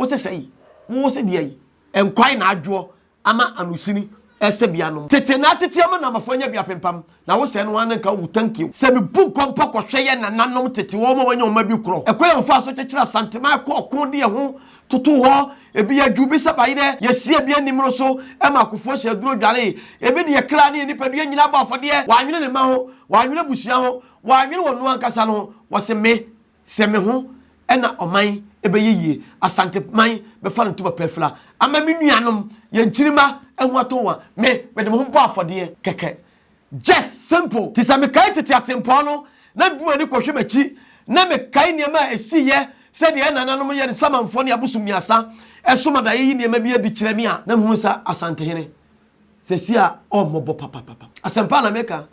Wo se sɛi, wo se deɛi. Nkwae na adwoɔ ama anosini sɛbea nom. Tete na atete ama Namafo anya bia pempam, na wo sɛɛ no ara na nka wowu tankiw. Sɛ me bu nkɔ mpo kɔ hwɛ yɛ nananom tete wɔn a wɔanya wɔn mma bi korɔ ɛkwan a wɔfaa so kyekyere Asantema ɛkɔ ɔko de ɛho totoo hɔ, ebi yɛ dwuu bi sɛ bayerɛ, yɛsi ebi animro so ma akofoɔ hyɛ aduro dwaree, ebi de yɛ kra ne yɛ nipadua nyinaa bɔ afɔdeɛ, wɔanwene ne mma ho, wɔanwene abusua ho, wɔanwene wɔn nu ankasa no ho, wɔse me. Sɛ me ho na ɔman ɛbɛyɛ yie, Asanteman bɛfa no ntom apɛɛfira, ama me nuanom, yɛn nkyirimma ho atɔ wɔn a, me, mede me ho bɔ afɔdeɛ kɛkɛ. Just simple! Te sɛ mekae tete atempɔn no, na mede m'ani kɔhwɛ m'akyi, na mekae nneɛma a ɛsiiɛ, sɛdeɛ yɛn nananom, yɛn samanfoɔ ne abosom mmiɛnsa som adaeɛ yi nneɛma bi adi kyerɛ me a, na mehu sɛ Asantehene seesei a ɔmmɔbɔ papapapa. Asɛmpa na meka.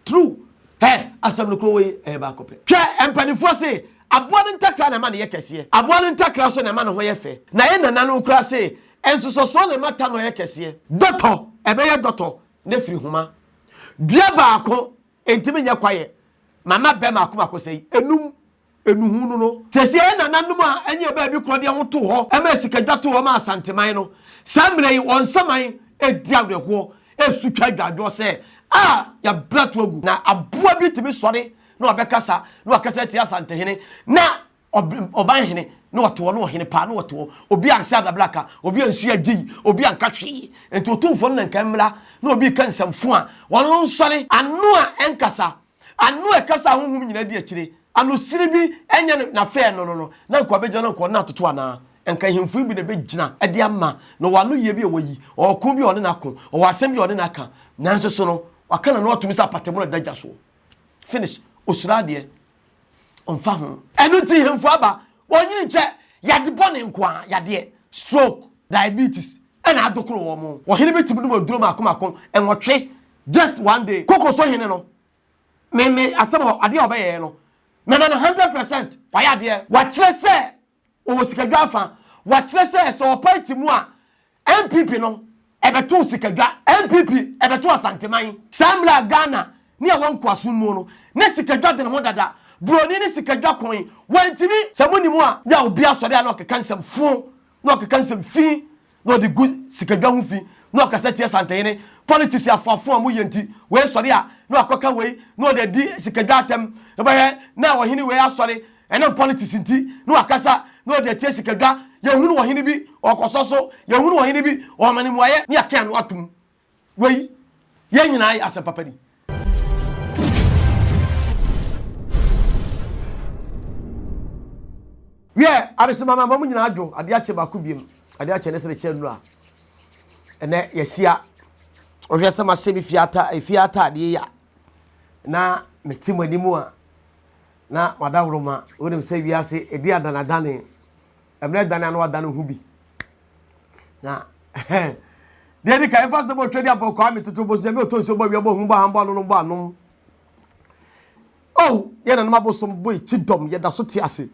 True hɛ asɛm no kuro wei ɛyɛ baako pɛ hwɛ mpaninfoɔ se aboa no ntakra na ɛma no yɛ kɛseɛ aboa no ntakra nso na ɛma ne ho yɛ fɛ na yɛ nananom koraa se nsosɔsoɔ na ɛma tanɔ yɛ kɛseɛ. Dɔtɔ ɛbɛyɛ dɔtɔ na firi homa dua baako ɛntimi nyɛ kwayɛ mama bɛ maako maako sɛi ɛnum nnuhu no no. Sɛsi ara nananom a ɛnyɛ yɛ baabi korɔ deɛ ho too hɔ maa sikadwa too hɔ maa Asanteman no. Saa mmerɛ yi wɔn nsaman redi awerɛhoɔ resu twa adwadwoɔ sɛ a yɛabrɛ to agu. Na aboa bi tumi sɔre na ɔbɛkasa na wakasa atia Asantehene na Ɔbanhene na ɔte hɔ na ɔhene paa na ɔte hɔ. Obi anhyɛ adabraka, obi anhyia agyeyi, obi anka hwee. Nti Otumfoɔ no na nka mmra na obi reka nsɛmfo a wɔn nsɔre ano a ɛnkasa Ano ɛkasa a honhom nyinaa di akyire, ano sini bi ɛnyɛ no na fɛɛ no no no, na nka ɔbɛgyina no nka ɔne no atoto anaa? Nka ahemfo yi bi na ɛbɛgyina de ama no, ɔwɔ ano yie bi a wayi, ɔwɔ ɔko bi a ɔne no ako, ɔwɔ asɛm bi a ɔne no aka, nanso so no, waka n'ano atom sɛ apatamu a ɛda gya soɔ. Finish. Ɔsuro adeɛ. Ɔmfa ho. Ɛno nti ahemfo aba, wɔnyini nkyɛ, yadeɛ bɔne nko ara, yadeɛ, stroke, diabetes, ɛna adokoro wɔn. Ɔhene bɛtumi nom aduro mmaako mmaako, nwɔtwe, Just one day koko so hene no ne ne asɛm a adeɛ a ɔbɛyɛɛ no na na no hundred percent wayɛ adeɛ. Wakyerɛ sɛ ɔwɔ sikadwa afa, wakyerɛ sɛ sɛ ɔpae te mu a NPP no ɛbɛto sikadwa, NPP ɛbɛto Asanteman. Saa mmerɛ a Ghana ne ɛwɔ nkoasom mu no, na sikadwa dene ho dada, broni ne sikadwa kɔn, wantumi. Sɛ monim a, na obi asɔre a na ɔkeka nsɛm fo, na ɔkeka nsɛm fi, na ɔde gu sikadwa ho fi na ɔkasa tia Santehene. Politics afoafo a wɔyɛ nti, wei sɔre a na wakɔka wei na ɔde adi sikadwa atam. Wobɛhwɛ na ɔhene wei asɔre, ɛnam politics nti na wakasa na ɔde atia sikadwa. Yɛhunu ɔhene bi ɔkɔsɔ so, yɛhunu ɔhene bi ɔma no mmuaeɛ na yɛaka ano atom. Wei, yɛn nyinaa yɛ asɛm papa ni. wiɛ adesemama ama mu nyinaa dwo adeɛ akyɛ baako biem adeɛ akyɛ ne sere kyɛ nnuro a ɛnɛ yɛahyia ɔhwɛ sɛ mahyɛ me fie ata efie ataadeɛ yi a na mete mo anim a na madaworo ma wonim sɛ wiase ɛdi adanadane ɛmɛ dan ano adan ho bi na deɛ di kan ɛfa sɛ bɔ twɛdi apɔ kɔ ami toto bɔ sɛ ɛmɛ ɔtɔ nsuo bɔ wia bɔ hu bɔ han bɔ ano no bɔ anom oh yɛ na nom abosom bɔ ekyi dɔm yɛ da so te ase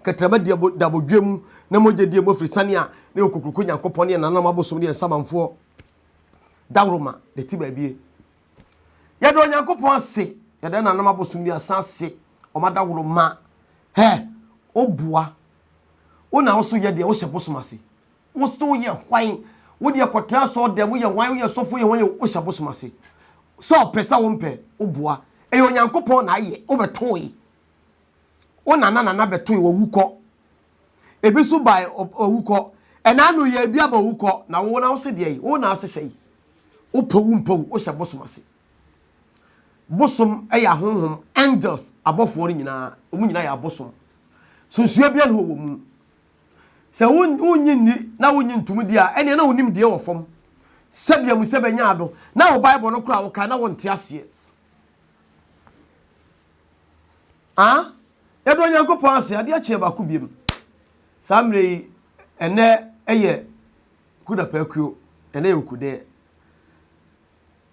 kɛtɛrɛma di abo da abodwe mu na mo gye di emu firi sani a ne okokuroko nyankopɔn ne yɛ na nom abosom ne yɛ nsamanfoɔ daworo ma de ti baabie Yɛda Onyankopɔn ase, yɛda nananom abosommiɛnsa ase, wɔn adawuroma. Hɛ, woboa. Wo na wo so yɛ deɛ wohyɛ bosom ase. Wo so woyɛ hwan? Wo deɛ kɔtena sɔɔ dɛm, woyɛ hwan, woyɛ sɔfo, woyɛ hwan, wohyɛ bosom ase. Sɛ ɔpɛ sɛ wompɛ, woboa. Ɛyɛ Onyankopɔn na ayɛ, wobɛtoe. Wo nana nana bɛtoe, wɔwu kɔ. Ebi nso bae owukɔ. Ɛnna ano yi ebi aba owukɔ. Na wo na wose deɛ yi, wo na ase sɛe. Wopɛ wo mpɛ wo, wohyɛ bosom ase. Bosom yɛ ahonhom, angels, abɔfoɔ no nyinaa, wɔn nyinaa yɛ abosom. Sunsua biara wɔ wɔn mu. Sɛ wonnye nni na wonnye ntom di a, ɛnneɛ na wonim deɛ wɔ fam. Sɛbea mu sɛ bɛnya ado. Na wo Bible no koraa wokae na wonte aseɛ. a yɛdɔ Nyankopɔn ase, adeɛ akyeɛ baako biom. Saa mmerɛ yi, ɛnɛ yɛ kudapaa kuo, ɛnɛ yɛ okudɛɛ.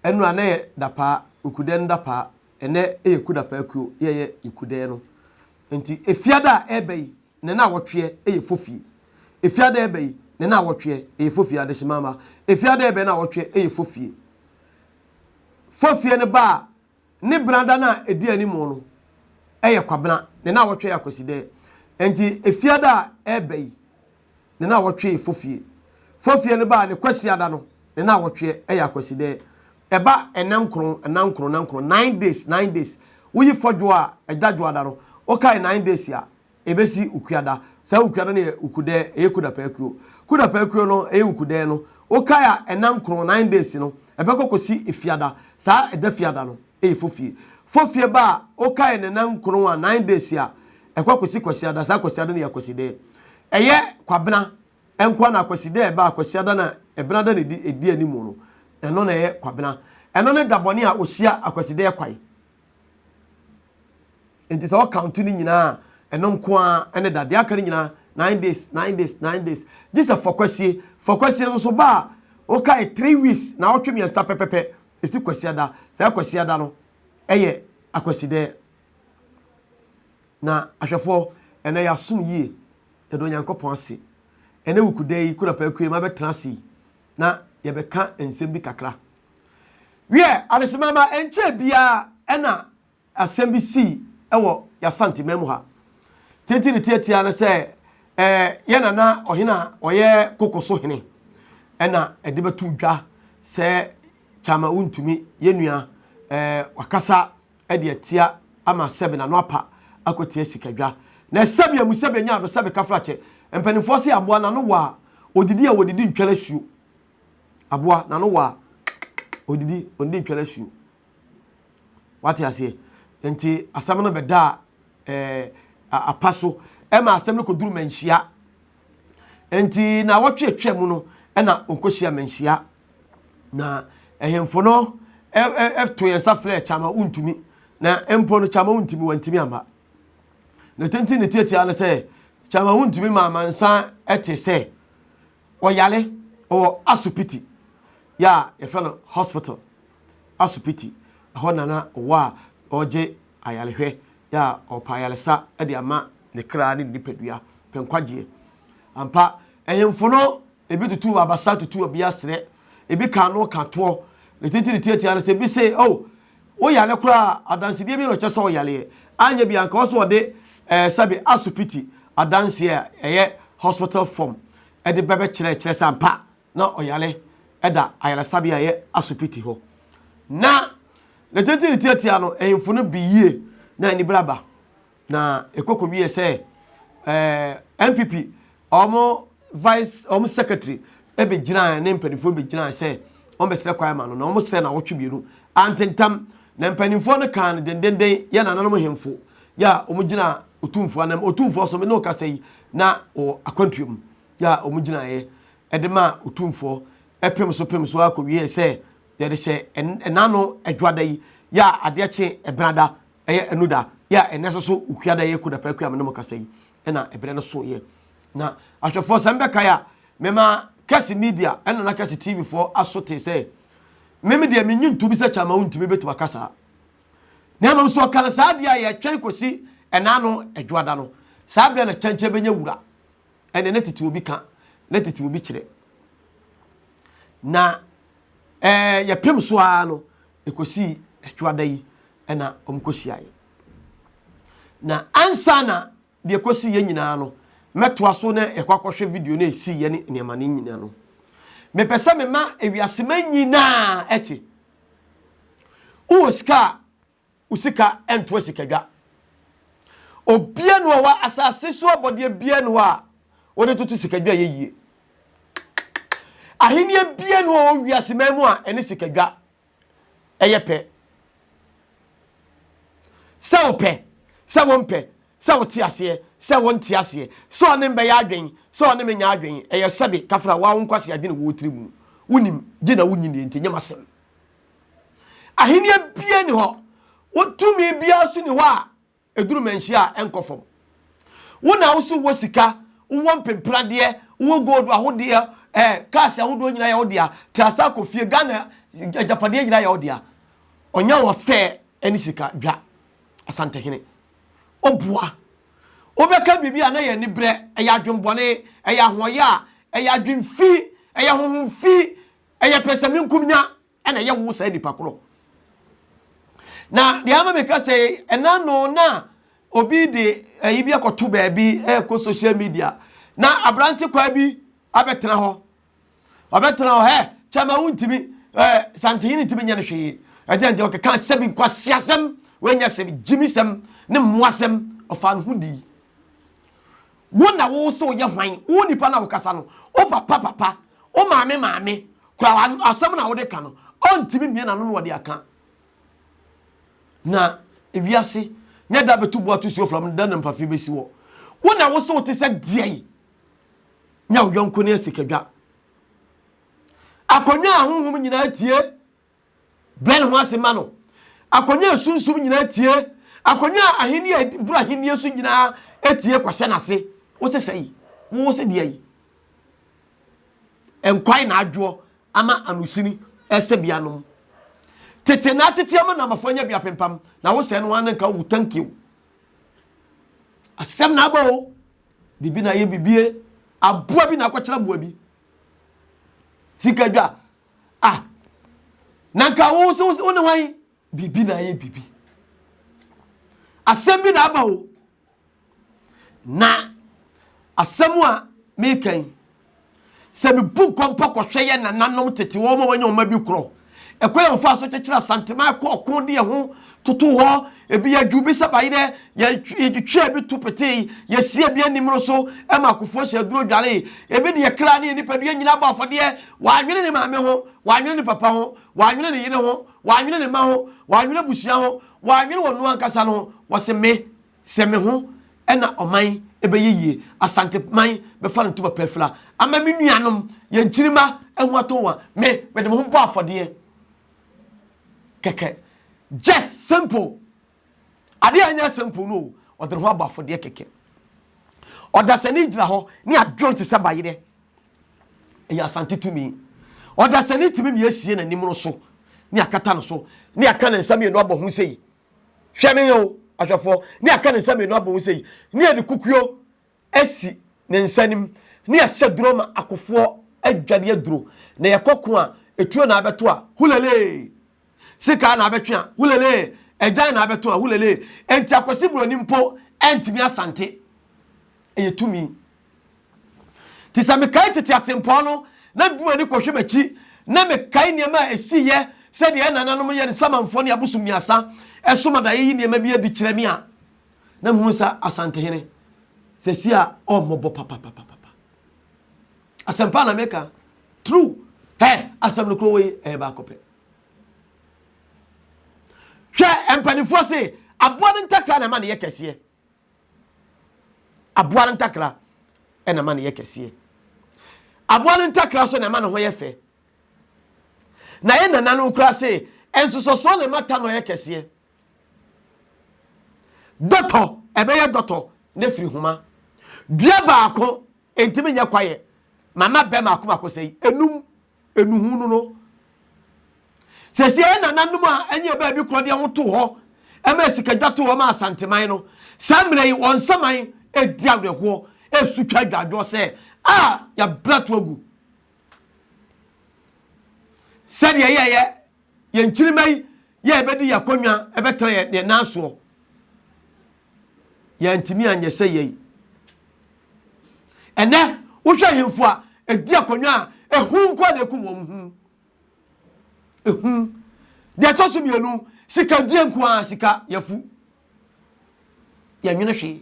Ɛnu a na yɛ dapaa, okudɛɛ no dapaa, ɛnɛ yɛ kudapaa kuo, yɛyɛ okudɛɛ no. Nti efiada a ɛba yi, ne na awɔtweɛ yɛ fofie. Efiada ɛba yi, ne na awɔtweɛ yɛ fofie, adehyemama. Efiada ɛba yi, na awɔtweɛ yɛ fofie. Fofie no ba a, ne benada no a ɛdi anim no yɛ Kwabena, ne nnawɔtwe yɛ Akwasidɛ. Enti Efiada a ɛreba yi, ne nnawɔtwe yɛ Fofie. Fofie no ba a, ne Kwasiada no, ne nnawɔtwe yɛ Akwasidɛ. Ɛba nna nkron, nna nkron, nna nkron, nine days, nine days. Woyi Fɔdwoɔ a, Dadwoɔda no, wokae nine days a, Ebesi Ukuada. Saa Ukuada no yɛ Ukudɛɛ, ɛyɛ Kudapɛɛ kuro. Kudapɛɛ kuro no, ɛyɛ Ukudɛɛ no, wokae a, ɛna nkron, nine days, no, ɛbɛkɔ kɔsi Efiada. Saa ɛda Fiada no, ɛyɛ Fofie. Fofie ba a, wokae no ɛna nkron a, nine days, a, ɛkɔ kɔsi Kwasiada. Saa Kwasiada no yɛ Akwasidɛɛ. Ɛyɛ Kwabena nko ara na Akwasidɛɛ ba a, Kwasiada na Ɛbenada na ɛdi ɛdi anim no, ɛno na ɛyɛ Kwabena. Ɛno ne dabɔne a ɔhyia Akwasidɛɛ kwan nti sɛ ɔkante no nyinaa a ɛno nko ara ne da deɛ aka no nyinaa nine days nine days nine days gye sɛ fɔkwasie fɔkwasie nso ba a wokae three weeks na ɔtwe mmiɛnsa pɛpɛpɛ ɛsi kwasia da saa kwasia da no ɛyɛ akwasidɛ na ahwɛfoɔ ɛnɛ yɛasom yie ɛdɔ onyankopɔn ase ɛnɛ wukudɛ yi kura pɛkue ma bɛtena ase yi na yɛbɛka nsɛm bi kakra. Wiɛ, adesemama ɛnkyɛɛ biara ɛna asɛm bi sii ɛwɔ y'Asanteman mu ha. Tete ne tiatia no sɛ ɛɛ yɛ nana ɔhene a ɔyɛ koko so hene ɛna ɛde bɛto dwa sɛ kyama wontumi yɛ nua ɛɛ wakasa de atia ama sɛbe n'ano apa akɔtia sikadwa na ɛsɛbe amu sɛbe anya ado sɛbe kafrakyɛ. Mpanimfoɔ se aboa n'ano wɔ a, ɔdidi a ɔdidi ntwɛre asuo. Aboa n'ano wɔ a, ɔdidi ɔdidi ntwɛre asuo. Wate aseɛ? Nti asɛm no bɛdaa ɛɛ apa so ɛma asɛm no kɔduru manhyia nti na wɔtwe atwa mu no ɛna ɔkɔsi amanhyia na ɛhemfo no ɛto yɛn nsa frɛ kyama wontumi na mpo no kyama wontumi wɔntumi ama na tenten ne tiatia no sɛ kyama wontumi ma amansa ɛte sɛ ɔyare ɔwɔ asopiti yɛ a yɛfrɛ no hospital asopiti ɛhɔ nana ɔwɔ a ɔgye ayarehwɛ a ɔrepa ayaresa de ama ne kra ne ne nipadua pɛ nkwagyeɛ. Ampa, ahemfo no ebi tutu abasa tutu ɔbea serɛ, ebi ka ano ka toɔ, ne titiri tiatia no sɛ ebi se, oh, woyare koraa adansedeɛ bi na ɔkyɛ sɛ ɔyareɛ. Anyɛ bi anka ɔsɛ ɔde eh, sɛbe asopiti adanseɛ a ɛyɛ hospital form de bɛbɛkyerɛ kyerɛ sɛ ampa na ɔyare da ayaresabea a ɛyɛ asopiti hɔ. Ná n'atitiriw retiatia no ahemfo no bi yie na anibere aba, na ɛkɔ kowiee sɛ ɛɛ NPP wɔn vice wɔn secretary bɛgyinae ne mpanimfoɔ no bɛgyinae sɛ wɔbɛsrɛ kwan ma no, na wɔsrɛ no awɔtwe mmienu. Antentam na mpanimfoɔ no kaa no dendenden yɛ nananom hemfo yɛ a wɔgyina Otumfoɔ anam. Otumfoɔ so me ne wo kasa yi na wɔ akwantuo mu. yɛ a wɔgyinaeɛ de maa Otumfoɔ pem so pem so ara kɔwieeɛ sɛ yɛde hyɛ ɛna ano adwoada yi yɛ a adeɛ kye ɛbenada ɛyɛ anuda yɛ a ɛnɛ nso so okuada yɛ kodapa akua me ne mo kasa yi ɛna ɛberɛ no soeɛ na ahwɛfoɔ sɛ mbɛkae a mema kɛse media ɛna na kɛse tv foɔ aso te sɛ meme deɛ menyi ntobi sɛ kyama wo ntumi bɛtumi aka saa na mmom so ɔka no saa deɛ a yɛtwɛn kɔsi ɛna ano adwoada no saa berɛ na kyɛnkyɛn bɛnya wura ɛnna na tete obi ka na tete obi kyerɛ na ɛɛ yɛpem so ara no ɛkɔsii ɛtwoada yi ɛna wɔkɔhyiaeɛ na ansa na deɛ ɛkɔsii yɛ nyinaa no mɛtoa so na ɛkɔ akɔhwɛ video no ɛsii yɛ ne nneɛma no nyinaa no mepɛ sɛ mema ewiasema nyinaa ɛte wowɔ sika a wo sika ntoa sikadwa. Obia ni hɔ wɔ asase so abɔdeɛ bia ni hɔ a wɔde toto sikadwa yɛ yie. Ahenniɛ bia ni hɔ wɔ wiase man mu a ɛne sikadwa ɛyɛ pɛ. Sɛ wopɛ, sɛ wompɛ, sɛ wote aseɛ, sɛ wonte aseɛ, sɛ ɔne mbɛyɛ adwen, sɛ ɔne menyɛ adwen, ɛyɛ sɛbe kafra wo a wo nkwasi adwene wɔ wo tiri mu. Wonim, gye na wonyi nie nti ɛnyɛ m'asɛm. Ahenni bia ni hɔ. Wo tumi bia nso ni hɔ a ɛduru manhyia a ɛnkɔ fam. Wo na wo so wɔ sika, wowɔ mpempradeɛ, wowɔ gold ahodeɛ, eh, cars ahodoɔ nyinaa yɛ wo dea, trasa kɔ fie, Ghana agyapadeɛ nyinaa yɛ wo dea. Ɔnya wɔ fɛ ne sika dwa, Asantehene. Ɔboa. Wobɛka biribi a na yɛ ani berɛ, ɛyɛ adwembɔne, ɛyɛ ahoɔyɛ a, ɛyɛ adwemfi, ɛyɛ honhomfi, Ɛyɛ pɛsɛmenkomenya na ɛyɛ wo saa nipa korɔ. Na deɛ ama meka sɛ ɛna no na obi de ayi bi akɔto baabi ɛkɔ social media na aberante kwaa bi abɛtena hɔ ɔbɛtena hɔ ɛ kyɛma wontumi ɛ santehene ntumi nyɛ no hwee ɛgyɛ nti ɔkeka sɛ bi nkwaseasɛm wɔanya sɛm gyimi sɛm ne mmoasɛm ɔfa no ho dii Wo na wo se woyɛ hwan? Wo nipa na wokasa no, wo papa papa, wo maame maame kora asɛm na wode ka no, ɔntumi mmie n'ano na ɔde aka. Na ewiase nyɛ da bɛtu bo ato suo fam no, da na mpafi bɛsi hɔ. Wo na wo se wote sɛ deɛn? Nya wo yɔnko ne asikadwa. Akonnwa a honhom nyinaa tie Brɛ ne ho ase ma no. Akonnwa a esunsum nyinaa tie, akonnwa a ahenni a edi boro ahenni so nyinaa tie kɔhyɛ n'ase. Wose sɛyi, wo se deɛ yi. Nkwae na adwoɔ ama anusini ɛsɛ bianom. Tete na atete ama namafo anya bi apempam na wo sɛ no ara na nka wo thank you. Asɛm na aba o. Bibi na ayɛ bibie. Aboa bi na akɔkyerɛ mmoa bi. Sika dwa. Ah, na nka wo so wo ne hwan? Biribi na ayɛ biribi. Asɛm bi na aba o. Na asɛm a meka yi, sɛ mebu nkɔmpɔ kɔhwɛ yɛ nananom tete wɔn a wɔanya wɔn bi korɔ, ɛkwan a wɔfaa so kyekyere asanteman kɔɔ ko de ɛho toto hɔ ebi yɛ dwu bi sɛ bayi dɛ yɛtwea bi to petee yɛsie bi anim no so ma akofoɔ hyɛ aduro dware ebi de yɛkra ne yɛ nipadua nyina bɔ afɔdeɛ wɔanwene ne maame ho wɔanwene ne papa ho wɔanwene ne yere ho wɔanwene ne ma ho wɔanwene abusua ho wɔanwene wɔn no ankasa no ho wɔse me sɛ me ho ɛna ɔman ɛbɛyɛ yie asante man bɛfa no ntoma pɛfila ama me nuanom yɛn kyirima ɛho atɔ wɔn me mede me ho bɔ afɔdeɛ kɛkɛ just simple adeɛ a ɛnyɛ simple no ɔde ne ho abɔ afɔdeɛ kɛkɛ ɔdasani gyina hɔ ne adwene te sɛ bayerɛ ɛyɛ asante tumi ɔdasani tumi ne asie n'anim no so ne akata no so ne aka ne nsa mmienu abɔ ho sɛ yi hwɛ ne yɛ o ahwɛfoɔ ne aka ne nsa mmienu abɔ ho sɛ yi ne yɛ ne kukuo asi ne nsa anim ne ahyɛduro ma akofoɔ adwane aduro na yɛkɔ ko a etuo na abɛto a hulelee sikaa na abɛtwe a hulelee agyan na abɛto a hulelee enti akwasi buroni mpo ɛntumi asante ɛyɛ tumi ti sɛ mekae tete atempɔn no na bi m'ani kɔhwɛ m'akyi na mekae nneɛma a ɛsiiɛ sɛdeɛ ɛnananom yɛ ne samanfoɔ ne abosom miasa ɛsom adaeɛ yi nneɛma bi adi kyerɛ me a na mehu sɛ asantehene sɛsi a ɔmmɔbɔ papapapapa asɛmpa na meka true hɛ asɛm no kuro wei ɛyɛ baako pɛ hwɛ mpanimfoɔ se aboa no ntakra na ɛma no yɛ kɛseɛ aboa no ntakra ɛna ɛma no yɛ kɛseɛ aboa no ntakra so na ɛma no ho yɛ fɛ na yɛ nana no kura se ɛnsosɔsoɔ na ɛma ta no yɛ kɛseɛ Dɔtɔ, ɛbɛyɛ dɔtɔ na firi homa. Dua baako ntumi nyɛ kwaeɛ. Mama bɛ mako mako sɛi, enum, enuhu no no. Sɛsi ɛyɛ nananom a ɛnyɛ bɛɛ bi korɔ deɛ ho to hɔ, ɛma asikadwa to hɔ ma asanteman no. Saa mmerɛ yi, wɔn nsaman ɛdi awerɛhoɔ, ɛsu twa adwadwoɔ sɛ, a yɛabrato agu. Sɛdeɛ yɛyɛ Yɛn nkyirimma yi yɛ a ɛbɛdi yɛn akonnwa ɛbɛtra yɛn yɛn nan soɔ. Yɛntumi anyɛ sɛ yɛi. Ɛnɛ wohwɛ ahemfo a ɛdi akonnwa a ehu nko na ekum wɔn hu. Ehu. Deɛ ɛtɔ so mmienu sika die nko ara sika yɛfu. Yɛnwene hwee.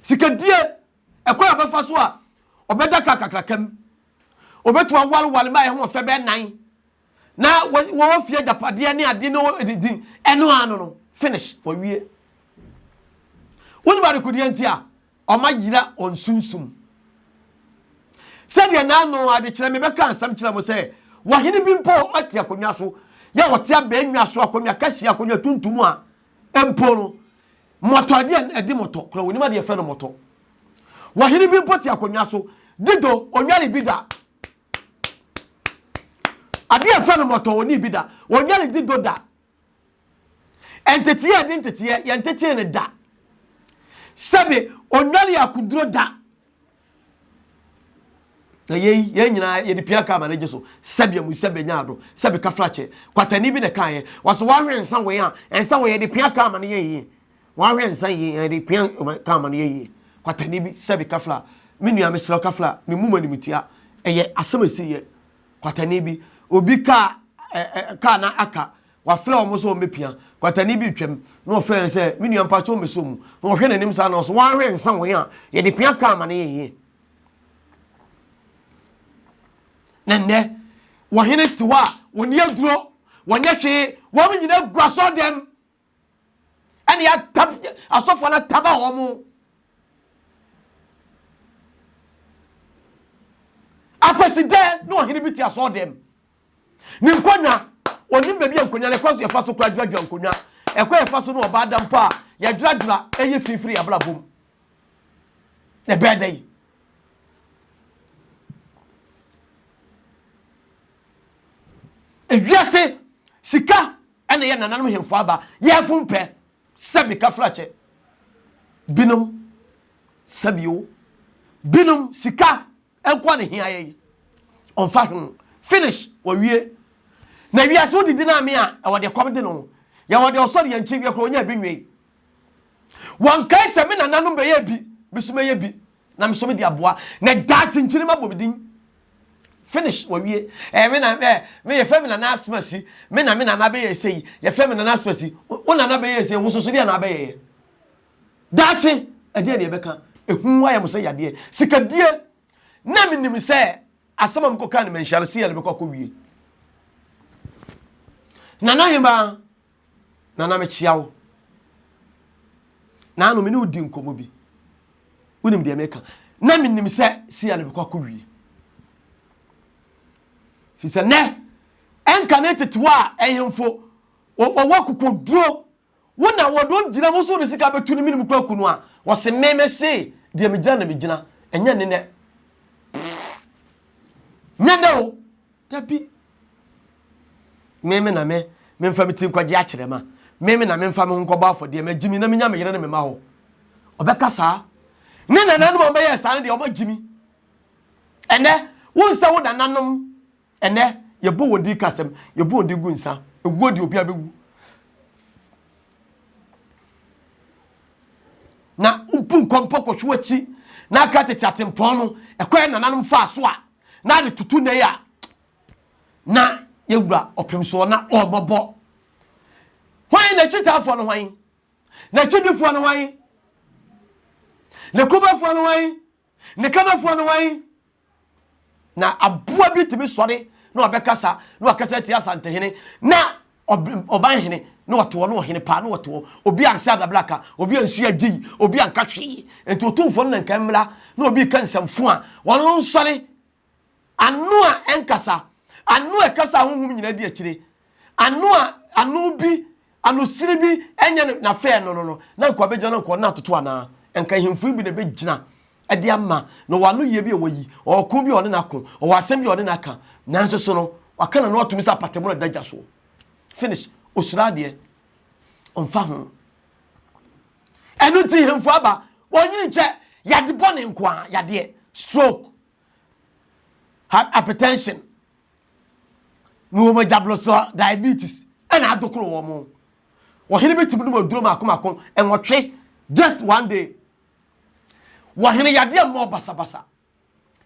Sika die Ɛkwan a ɔbɛfa so a ɔbɛda kar kakraka mu. Obetumi awareware mma a ɛho fɛ bɛyɛ nnan na wɔwɔ fie agyapadeɛ ne adeɛ ne ɛde din ɛno ano no finish wɔwie. Wonim adekodeɛ nti a ɔma yera wɔn sunsum. Sɛdeɛ n'ano adekyerɛ mebɛka nsɛm kyerɛ mo sɛ wɔhene bi mpo ɔte akonnwa so yɛ ɔte abɛn nnwa so akonnwa kɛseɛ akonnwa tuntum a mpo no Mmɔtɔ adeɛ no ɛde mmɔtɔ kora wɔnim adeɛ fɛ no mmɔtɔ wɔhene bi mpo te akonnwa so dido ɔnware bi da adeɛ fɛ no mmɔtɔ wɔni bi da ɔnware dido da nteteɛ ɛde nteteɛ yɛntetee no da sɛbe ɔnware akoduro da na yei yɛn nyinaa yɛde pia kaa ma ne gye so sɛbea mu sɛbea nya ado sɛbe kafra kyɛ kwatani bi na kaa yɛ wɔsɛ wɔahwɛ nsa wei a nsa wei yɛde pia kaa ma ne yɛ yie wɔahwɛ nsa yie yɛde pia kaa ma ne yɛ yie kwatani bi sɛbe kafra me nua mesrɛ kafra me mu ma nimtia ɛyɛ asɛm ɛsi yɛ kwatani bi obi kaa kaa na aka Wafrɛ wɔn sɛ wɔmmɛpia. Kwatani bi retwam, na ɔfrɛ no sɛ, Me nua, mpakyɛ wɔmmɛsɔ mu. Na ɔhwɛ n'anim saa na ɔsɛ, Woanhwɛ nsa wɔn a yɛde pia kaa ma no yɛnyɛ. Na nnɛ, wɔhene te hɔ a, wɔnni aduro, wɔnyɛ hwee, wɔn nyina gua sɔ dɛm. Ɛne atab, asɔfoɔ no ataba wɔn. Akwasi dɛ na ɔhene bi te asɔ dɛm. ne nkonnwa onim baabi a nkonnwa no ɛkwan so yɛfa so kora dweradwera nkonnwa ɛkwan yɛfa so no ɔbaa da mpo a yɛdweradwera ɛyɛ finfiri abrabɔ mu na ɛbɛyɛ dɛ yi ewiase sika ɛna yɛ nananom hemfo aba yɛfo mpɛ sɛbi kafrakyɛ binom sɛbio binom sika Nkoa na ehia yɛn. Ɔmfa ho. Finish. Wɔwie. Na wiase wo didi no ame a, ɛwɔ deɛ kɔm de no. Yɛwɔ deɛ ɔsɔre yɛn nkyeweɛ koraa ɔnyaa bi nwee. Wɔnkae sɛ me nananom bɛyɛɛ bi, me nso mɛyɛ bi, na me nso mede aboa, na daakye nkyenema abɔ me din. Finish. Wɔwie. Ɛɛ me na ɛɛ me yɛfrɛ me nana asemasi, me na me nana bɛyɛɛ sei, yɛfrɛ me nana asemasi. Wo nana bɛyɛɛ sei, wo nso so deɛn na wabɛyɛeɛ? Daakye, ɛdeɛn na yɛbɛka? Ehu ayɛ mo sɛ yadeɛ. Sikadie, na menim sɛ asɛm a mekɔkaa no manhyia no, sei a mebɛkɔ akɔwie. Nana Hemaa, Nana mekyia wo. Naano me ne wodi nkɔmmɔ bi. Wonim deɛ meka. Na menim sɛ sei a na mekɔ akɔwie. Firi sɛ nɛ ɛnka ne tetewa a ɛhemfo wɔwɔ kokoduro Wo na wɔde wɔn gyina wo so wɔde sika bɛtu ne mene mu kwaku no a wɔse me me se deɛ megyina na megyina ɛnyɛ ne nɛ nyɛ dɛ o dabi me me na me memfa me ti nkwagye akyerɛ ma me me na memfa me ho nkɔbɔ afɔdeɛ magye mi na menya me yere ne me ma hɔ ɔbɛka saa ne nananom a wɔbɛyɛ saa no deɛ wɔagye mi ɛnɛ wonsɛ wo nananom Ɛnnɛ, yɛbɔ wɔn din ka asɛm, yɛbɔ wɔn din gu nsa. Ewuo deɛ obiara bɛwu. Na wobu nkɔmpɔ kɔhwe w'akyi na aka tete atempɔn no ɛkwan nananom faa so a na ade tutu nnɛ yi a na yɛwura ɔpem soɔ na ɔmmɔbɔ. Hwan na akyitaafoɔ no hwan? Na akyidifoɔ no hwan? Na kubafoɔ no hwan? Ne kanafoɔ no wan? Na aboa bi tumi sɔre na ɔbɛkasa na ɔkasa atia asantehene na ɔban hene na ɔtoɔ na ɔhene paa na ɔtoɔ obi ansa adabla ka obi ansi agye yi obi anka hwee nti otumfoɔ no na nka mmra na obi ka nsɛmfo a wɔn nsɔre Ano a ɛnkasa, ano a ɛkasa a honhom nyinaa di akyire, ano a ano bi, anosini bi nyɛ no na fɛɛ no no no, na nka ɔbɛgyina no nka ɔno na atoto anaa? Nka ahemfo yi bi na ɛbɛgyina de ama na ɔwɔ ano yie bi a wayi, ɔwɔ ko bi a ɔne no ako, ɔwɔ asɛm bi a ɔne no aka, nanso so no, waka n'ano ato mu sɛ apatamu na ɛda gya soɔ. Finish. Ɔsuro adeɛ. Ɔmfa ho. Ɛno nti hemfo aba, ɔnyini nkyɛ, yade bɔne nkoa, yadeɛ, stroke, heart hypertension ne wɔn agyablosɔ diabetes ɛna adokoro wɔn mo wɔhene bɛtumi nom aduro mako mako nwɔtwe just one day wɔhene yadeɛ mmɔ basabasa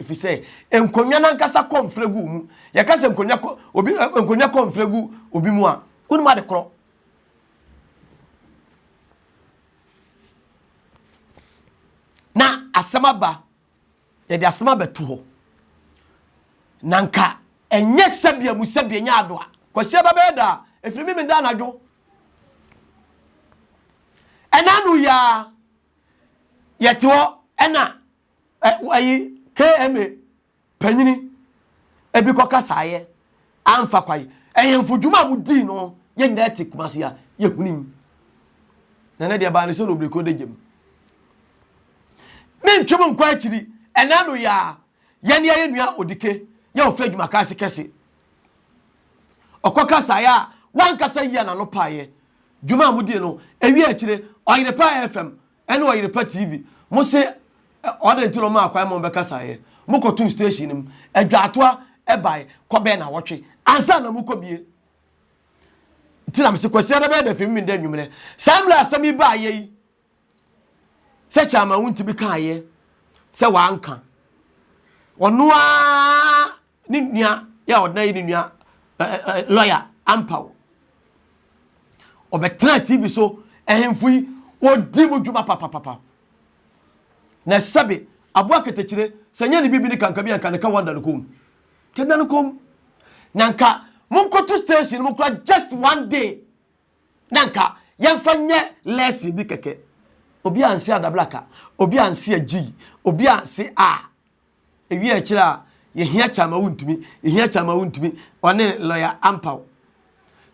ɛfiri sɛ nkonnwa no ankasa kɔ mfrɛ gu mu yɛka sɛ nkonnwa kɔ obi eh, nkonnwa kɔ mfrɛ gu obi mu a wonim ade korɔ na asɛm aba Yɛde asɛm abɛto hɔ. Na nka ɛnyɛ sɛbea mu sɛbea nyɛ ado a. Kwasi aba bɛyɛ da a, ɛfiri me meda anadwo. Ɛna no yɛ a, yɛte hɔ ɛna ɛyi KMA panyini ebi kɔkasaeɛ. Amfa kwan. Ɛhenfo dwuma a wodii no yɛn nyinaa te Kumasi a yehunim. Na ɛnɛ deɛ ɛbaa ne sɛ no obiriko da gyam. Me ntwem nkɔ akyiri, ɛnɛ ano yɛ a yɛne yɛn nua Odike yɛ ofiri adwuma ka ase kɛse. Ɔkɔ kasaeɛ a wankasa yia n'ano paeɛ. Dwuma a modie no, ewie akyire ɔyere paa fam ɛne ɔyerepa TV. Mo se ɔdɛn nti na ɔmaa kwan ma wɔbɛkasaeɛ? Mokɔtoo station no mu. Adwaatoa bae kɔbɛɛ nawɔtwe ansa na mokɔbie. Nti na mese Kwasiada bɛyɛ dɛ afei memenda anwummerɛ. Saa mmerɛ asɛm yi baeɛ yi, sɛ Chairman Wontimi kaeɛ sɛ wanka. Ɔno ara ne nua yɛ ɔdena yɛ ne nua lɔya ampa o ɔbɛtena tv so ahemfo yi wɔdi mu dwuma papapapa na sɛbe aboa ketekyire sɛ nyɛ ne bibi ne kanka bi anka ne ka wanda no kom kɛda no kom na nka monkoto station mu kora just one day na nka yɛmfa nyɛ lesson bi kɛkɛ obi anse adablaka obi anse agyi obi anse a Ewie a ɛkyerɛ a yɛhia kyɛ ama wontumi, yɛhia kyɛ ama wontumi, ɔne lɔya ampaw.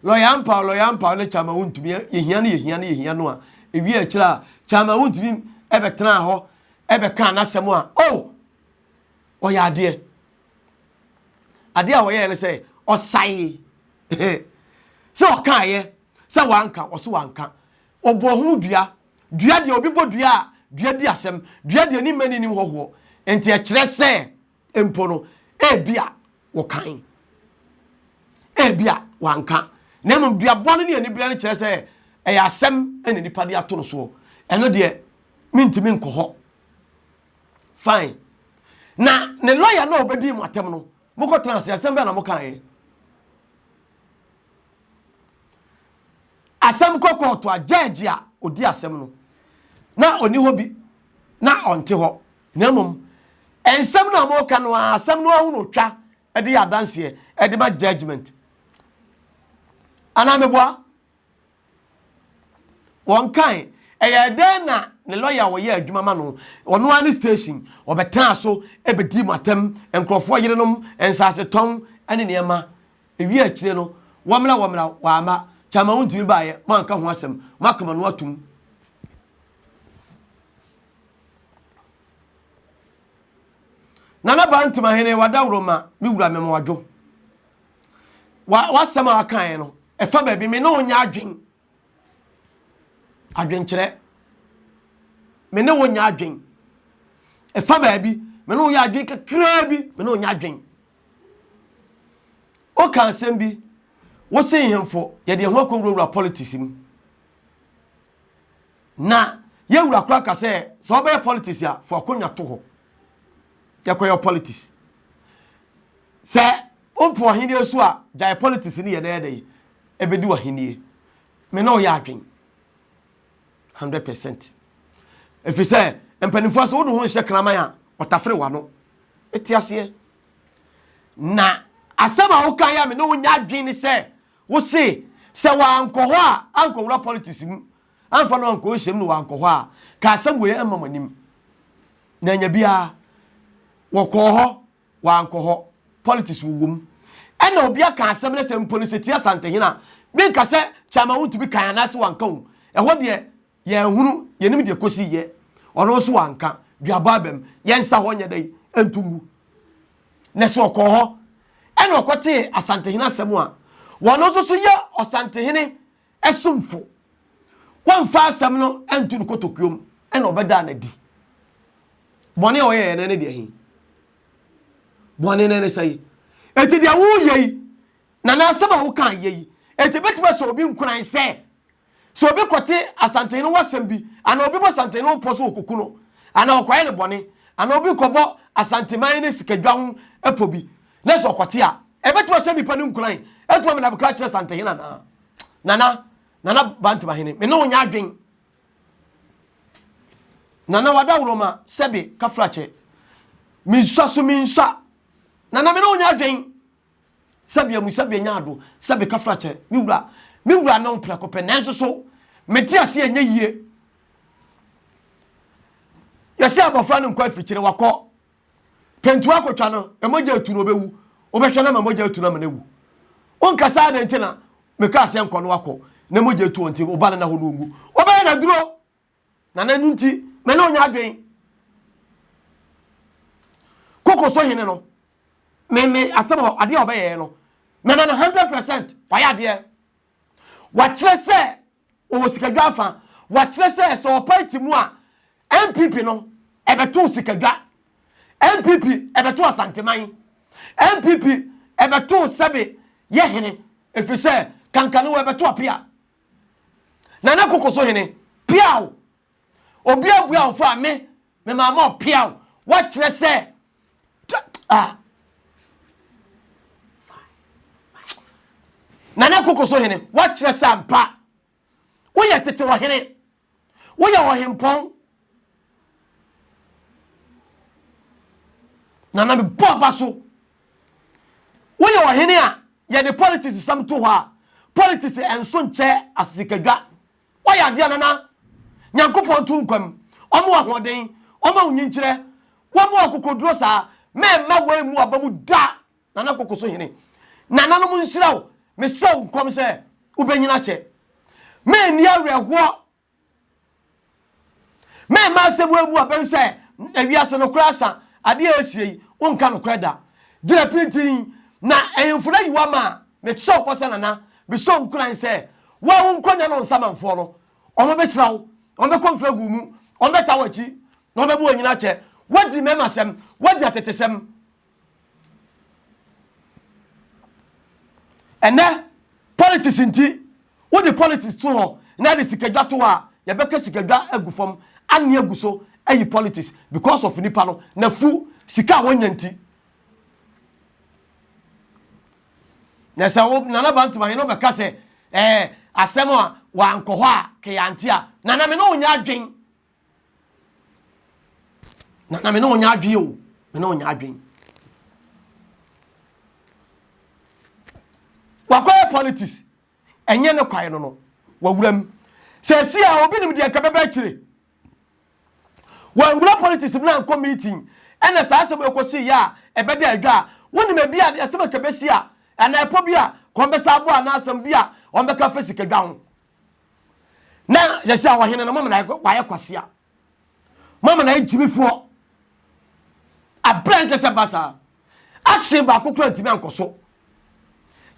Lɔya ampaw, lɔya ampaw ne kyɛ ama wontumi, yɛhia no, yɛhia no, yɛhia no a, ewie a ɛkyerɛ a kyɛ ama wontumi ɛbɛtenaa hɔ, ɛbɛkaa n'asɛm a, o, oh, ɔyɛ adeɛ. Adeɛ a wɔyɛɛ no sɛ ɔsae sɛ ɔkaeɛ sɛ wanka, ɔso wanka. Ɔbɔ ho dua Dua deɛ, obi bɔ dua a, dua di asɛm. Dua deɛ, ne mma nnim hɔhoɔ. Enti ɛkyerɛ sɛ mpo no, ebi a wɔkan, ebi a wanka. Na mmom duabɔ no ne anibereɛ no kyerɛ sɛ ɛyɛ asɛm na nnipa de ato no soɔ. Ɛno deɛ, mentumi nkɔ hɔ. Fine. Na ne lɔya no a ɔbɛdi mu atɛm no, mokɔtena ase, asɛm bɛɛ na mokaeɛ. Asɛm kɔ kɔɔto a, gyɛɛgye a ɔdi asɛm no, na ɔnni hɔ bi, na ɔnte hɔ, na mmom nsɛm no a wɔreka no ara, asɛm no ara ho na ɔtwa de yɛ adanseɛ de ma judgement. Anaa meboa? Wɔnkae. Ɛyɛ dɛn na ne lɔya a ɔyɛ adwuma ma no, ɔno ara ne station, ɔbɛtenaa so bɛdii mo atɛm, nkurɔfoɔ yerenom, nsasetɔn ne nneɛma Ewiee akyire no, wɔmmra wɔmmra, wɔamma. Kyama wontumi baeɛ, moanka ho asɛm, moakoma no atom. Nana Baa Ntimahene, wadaworo ma me wura Memoadwo. W'asɛm a wakaeɛ no, ɛfa baabi me ne wo nyɛ adwen. Adwenkyerɛ. Me ne wo nyɛ adwen. Ɛfa baabi me ne wo yɛ adwen kakraa bi, me ne wo nyɛ adwen. woka asɛm bi wose nhemfo yɛde yɛn ho akɔwurawura politics mu na yɛwura kora ka sɛ sɛ wɔbɛyɛ politics a fo akonnwa to hɔ yɛkɔyɛ politics sɛ wopɛ ɔhenni so a gyae politics ne yɛ na ɛdɛ yi ɛbɛdi ɔhenni me na ɔyɛ adwen 100 percent ɛfiri sɛ mpanimfoɔ sɛ wode ho nhyɛ kraman a ɔtafere wano te aseɛ na asɛm a woka yɛ a me ne wonya adwene ne sɛ wo se sɛ wankɔ hɔ a ankɔwura politics mu amfa no ankɔ nhyɛm no wankɔ hɔ a ka asɛm wei ɛmma mo anim na anya biara wɔkɔɔ hɔ wankɔ hɔ politics wowɔ mu ɛna obi aka asɛm no sɛ mpo no sɛ tia santehena menka sɛ kyama wontumi kan anaasɛ wanka wo ɛhɔ deɛ Yɛnhunu, yɛnim deɛ kɔsi yɛ. Ɔno nso wanka, duabɔ abam. Yɛn nsa hɔ nyɛ dɛn, ɛntu ngu. Na sɛ ɔkɔɔ hɔ, ɛna ɔkɔtee Asantehene asɛm a, wɔno nso so yɛ Ɔsantehene somfo. Wamfa asɛm no antu no kotokuom, ɛna ɔbɛdaa no adi. Bɔne a ɔyɛɛ no ne deɛ he? Bɔne no ne sɛ yi. Enti deɛ woyɛ yi, na n'asɛm a wokaa yɛ yi, enti ɛbɛtumi ahyɛ obi nkuran sɛ Sɛ obi kɔte asanten no ho asɛm bi, anaa obi bɔ asanten no ho pɔ sɛ ɔkɔku no, anaa ɔkɔyɛ no bɔne, anaa obi kɔbɔ asanteman no sikadwa ho pɔ bi, na sɛ ɔkɔte a, ɛbɛtumi ahyɛ nnipa no nkuran atumi ama no abɛka akyerɛ asantenhene anaa? Nana, Nana Bantamahene, me ne wo nyɛ adwen. Nana Wadaworoma, sɛbe, Kafrakyɛ, mensua so mensua. Nana, me ne wo nyɛ adwen. Sɛbe amu, sɛbe anya ado, sɛbe ka fra kyɛ, me wura, me wura no mprɛko pɛ, nanso so mete ase ɛnyɛ yie. Yɛsɛ abɔfra no nkɔ afikyire, wakɔ pɛntu akɔtwa no, na mogya atu no ɔbɛwu, wobɛhwɛ no ma mogya atu no ama no awu. Wonkasa adɛn nti na meka sɛ nkɔ no akɔ na mogya atu ɔnti, wo ba no na hɔ no ɔnwu, wobɛyɛ no aduro. Na n'anu nti, me ne ɔnyɛ adwen. Koko so hene no, me me asɛm hɔ adeɛ a ɔbɛyɛɛ no, mɛma no hundred percent wayɛ adeɛ. Wakyerɛ sɛ ɔwɔ sikadwa afa, wakyerɛ sɛ sɛ ɔpa ti mu a NPP no ɛbɛto sikadwa, NPP ɛbɛto Asanteman, NPP ɛbɛto sɛbe yɛ hene, ɛfiri sɛ kankanewa ɛbɛto apea. Nana koko so hene. Piaw! Obi abua wo fo a me me maa ma ɔpiaw. Wakyerɛ sɛ ah. Nana koko so hene. Wakyerɛ sɛ ampa. Woyɛ tete wɔ hene. Woyɛ ɔhempɔn. Na na mebɔ aba so. Woyɛ ɔhene a yɛde politics sɛm to hɔ a, politics ɛnso nkyɛ asesikadwa. Woayɛ adeɛ a nana Nyankopɔn to nkwam. Wɔn wɔ ahoɔden, wɔn ma wo nyinkyerɛ, wɔn wɔ akokoduro saa. Mɛmma wei mu aba mu da. Nana koko so hene. Nananom nhyira wo. Mehyɛ wo nkɔm sɛ wobɛnyina akyɛ. Menni awerɛhoɔ. Memma asɛm wo amu abam sɛ ewiase nokorɛ asa. Adeɛ a ɛresie yi, wonka nokorɛ da. Gyina pintinn na ahemfo no ayi wo ama a, mehyɛ wo bɔ sɛ Nana, mehyɛ wo nkuran sɛ wo a wonkɔ nnɛ no nsamanfoɔ no, wɔbɛhyira wo, wɔbɛkɔ mfraguu mu, wɔbɛta w'akyi na wɔbɛma wanyina akyɛ. Woadi mmarima asɛm, woadi atetesɛm. Ɛnnɛ, politics nti, wode politics to hɔ na de sikadwa to hɔ a, yɛbɛka sikadwa agu fam, anne agu so ayi politics because of nipa no, n'afu, sika a wɔnya nti. Na sɛ wo Nana Bantam ahene bɛka sɛ ɛɛ asɛm a wankɔ hɔ a kɛyante a, Nana me ne wo nyɛ adwen. na na me ne ɔnyɛ adwene o me ne ɔnyɛ adwene wakɔyɛ politics ɛnyɛ ne kwae no no wawura mu sɛ si a obi nim deɛ nka bɛbɛ akyire wɔnwura politics mu na nkɔ meeting ɛna saa asɛm ɛkɔsi yɛ a ɛbɛda adwa a wonim ebi a ɛsɛm ɛka bɛsi a ɛna ɛpɔ bi a kɔmbɛsa aboa anaasɛm bi a wɔn bɛka fɛ sikadwa ho na yɛ sɛ ɔhene no mama na wayɛ kwasea mama na agyimifoɔ aberɛ nsɛ sɛ ba saa akye baako kora ntumi ankɔ so